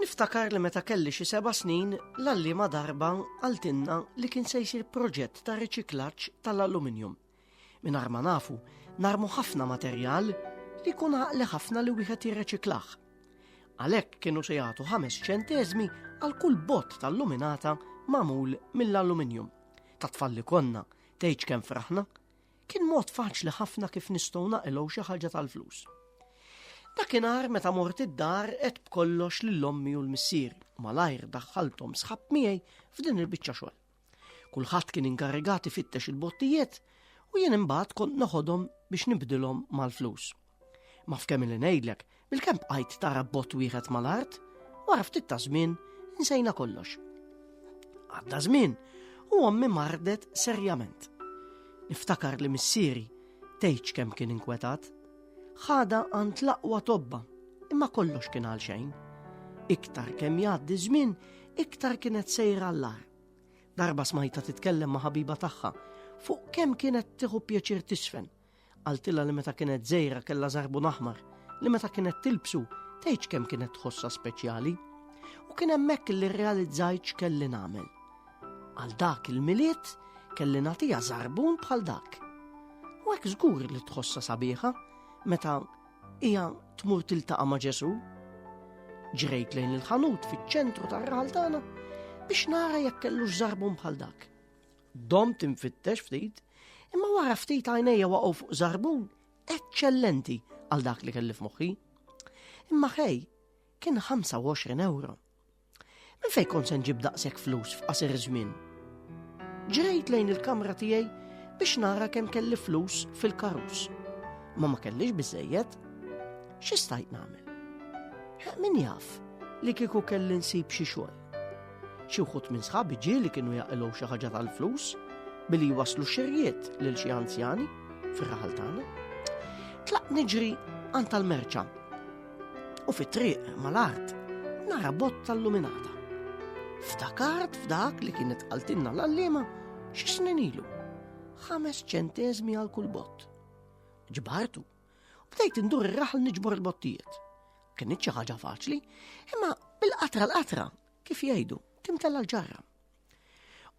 Niftakar li meta kelli xi seba' snin l-allima darba għaltinna li kien se jsir proġett ta' riċiklaġġ tal-aluminium. Min ma nafu, narmu ħafna materjal li kun għaqli ħafna li wieħed jirreċiklaħ. Għalhekk kienu se jagħtu ħames ċenteżmi għal kull bot tal-luminata magħmul mill-aluminium. Ta' tfalli konna, tgħidx kemm fraħna, Kien mod faċli ħafna kif nistgħu naqilgħu xi ħaġa tal-flus. Dakinhar meta mort id-dar qed b'kollox lil ommi u l-missier malajr daħħalthom sħab miegħi f'din il-biċċa xogħol. Kulħadd kien inkarigati fittex il-bottijiet u jien imbagħad kont noħodhom biex nibdilhom mal-flus Ma f'kemm li ngħidlek, bil-kemm bqajt tara bot wieħed mal-art, wara ftit ta' żmien insejna kollox. Għadda żmien u ommi mardet serjament. Niftakar li missieri tgħidx kemm kien inkwetat. Ħada għand l-aqwa tobba, imma kollox kien għal xejn. Iktar kemm jgħaddi żmien, iktar kienet sejra l-lar. Darba smajta titkellem ma' ħabiba tagħha fuq kemm kienet tieħu pjaċir tisfen Qaltilha li meta kienet żgħira kellha żarbun aħmar, li meta kienet tilbsu tgħidx kemm kienet tħossha speċjali. U kien hemmhekk li rrealizzajt x'kelli nagħmel. Għal dak il-milied kelli nagħtiha żarbun bħal dak. U hekk żgur li tħossha sabiħa meta hija tmur tiltaqa' ma' Ġesu. Ġrejt lejn il-ħanut fiċ-ċentru tar-raħal tagħna biex nara jekk kellux żarbun bħal dak. Domt infittex ftit, imma wara ftit għajnejja waqgħu fuq zarbun eċċellenti għal dak li kelli f'moħħi. Imma ħej, kien 25 euro. Minn fejn kont se nġib daqshekk flus f'qasir żmien? Ġrejt lejn il-kamra tiegħi biex nara kemm kelli flus fil-karus. Ma ma kellix biżejjed. X'istajt nagħmel? Min jaf li kieku kelli nsib xi xogħol. Xi wħud minn sħabi ġieli kienu jaqilgħu xi ħaġa tal-flus billi jwaslu xirjiet lil xi anzjani fir-raħal tagħna. Tlaq niġri għand tal-merċa u fit-triq mal-art nara bott tal-luminata. Ftakart f'dak li kienet qaltilna l-allima xi snin ilu. Ħames ċentezmi għal kull bott. Ġbartu U bdejt indur ir-raħal niġbor il-bottijiet. Kienet xi ħaġa faċli, imma bil-qatra l-qatra, kif jgħidu, timtella l-ġarra.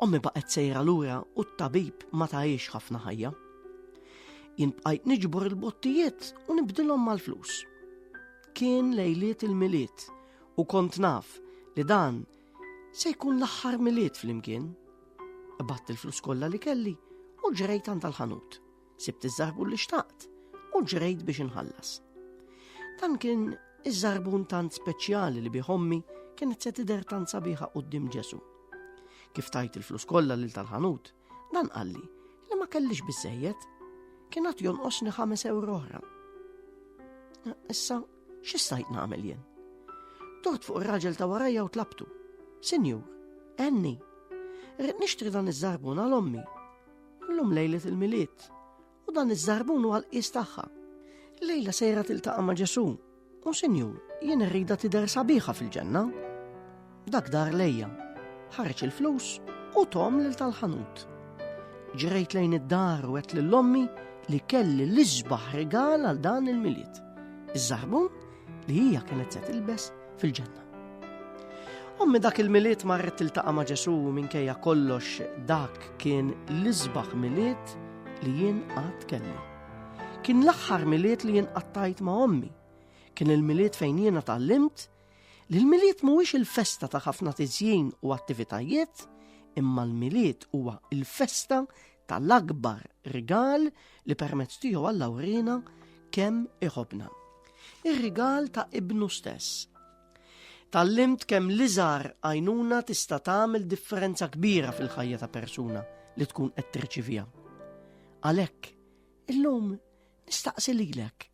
Ommi baqgħet sejra lura u t-tabib ma tajiex ħafna ħajja. Jien bqajt niġbor il-bottijiet u nibdilhom mal-flus. Kien lejliet il-miliet u kont naf li dan se jkun l-aħħar miliet fl-imkien. Batt il-flus kollha li kelli u ġrejt għand tal-ħanut. Sibt iż-żarbun li xtaqt u ġrejt biex inħallas. Dan kien iż-żarbun tant speċjali li bih ommi kienet se tidher tant sabiħa qudiem Ġesu. Kif tajt il-flus kollha lil tal-ħanut, dan qalli li ma kellix biżejjed kien għat jonqosni ħames euro oħra. Issa, x'istajt nagħmel jien? Tort fuq ir-raġel ta' warajja u tlabtu. Sinjur, enni, rrid nixtri dan iż-żarbun għal ommi Illum lejlet il-milied u dan iż-żarbun huwa l-qies tagħha. Lejla sejra tiltaqa' ma' Ġesu. U sinjur, jien irrida tidher sabiħa fil-ġenna. Dak dar lejja, ħareġ il-flus u tom lil tal-ħanut. Ġrejt lejn id-dar u għet lill-ommi li kelli l-isbaħ regal għal dan il-milied. Iż-żarbun li hija kienet se tilbes fil-ġenna. Ommi dak il-miliet marret tiltaqa' ma' Ġesu minkejja kollox dak kien l-isbaħ miliet li jien qatt kelli. Kien l-aħħar miliet li jien qattajt ma' ommi. Kien il-miliet fejn jiena tallimt li l-miliet mhuwiex il-festa ta' ħafna tiżjin u attivitajiet, imma l-miliet huwa il-festa tal-akbar rigal li permezz tiegħu Alla urina kemm iħobna. Ir-rigal ta' ibnu stess. Tallimt kemm liżar għajnuna tista' tagħmel differenza kbira fil-ħajja ta' persuna li tkun qed tirċivija. Għalhekk, illum nistaqsi lilek,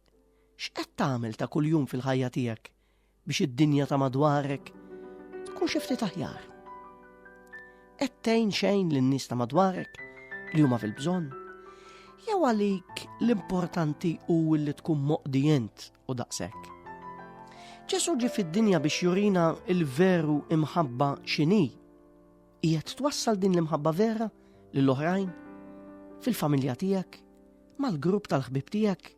x'qed tagħmel ta' kuljum fil-ħajja tiegħek biex id-dinja ta' madwarek tkun xi ftit aħjar. Qed tgħin xejn lin-nies ta' madwarek li huma fil-bżonn. Jew għalik l-importanti hu li tkun moqdi int u daqshekk. Ġesu ġi fid-dinja biex jurina il-veru imħabba xini. Qiegħed twassal din l-imħabba vera lill-oħrajn, fil-familja tiegħek, mal-grupp tal-ħbib tiegħek,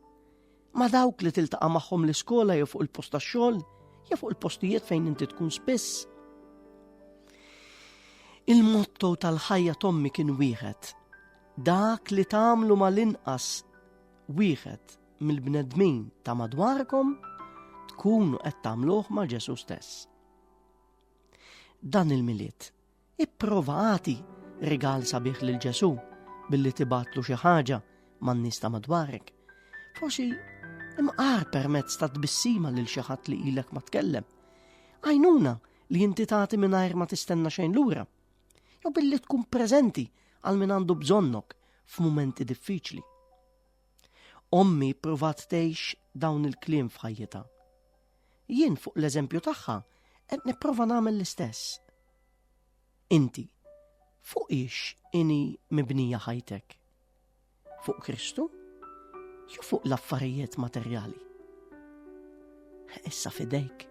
Ma' dawk li tiltaqa' magħhom l-iskola jew fuq il-post tax-xogħol, jew fuq il-postijiet fejn inti tkun spiss. Il-motto tal-ħajja tommi kien wieħed. Dak li tagħmlu mal-inqas wieħed mill-bnedmin ta' madwarkom tkunu qed tagħmluh ma' Ġesu stess. Dan il-miliet Ipprova agħti rigal sabiħ lil Ġesù billi tibatlu xi ħaġa man-nies ta' madwarek. Forsi imqar permezz ta' tbissima lil xi ħadd li ilek ma tkellem. Għajnuna li inti tagħti mingħajr ma tistenna xejn lura. Jew billi tkun preżenti għal min għandu bżonnok f'mumenti diffiċli. Ommi provat tgħix dawn il-kliem f'ħajjita. Jien fuq l-eżempju tagħha qed nipprova nagħmel l-istess. Inti, fuq ix ini mibnija ħajtek? Fuq Kristu? Jew fuq l-affarijiet materjali? Issa fidejk.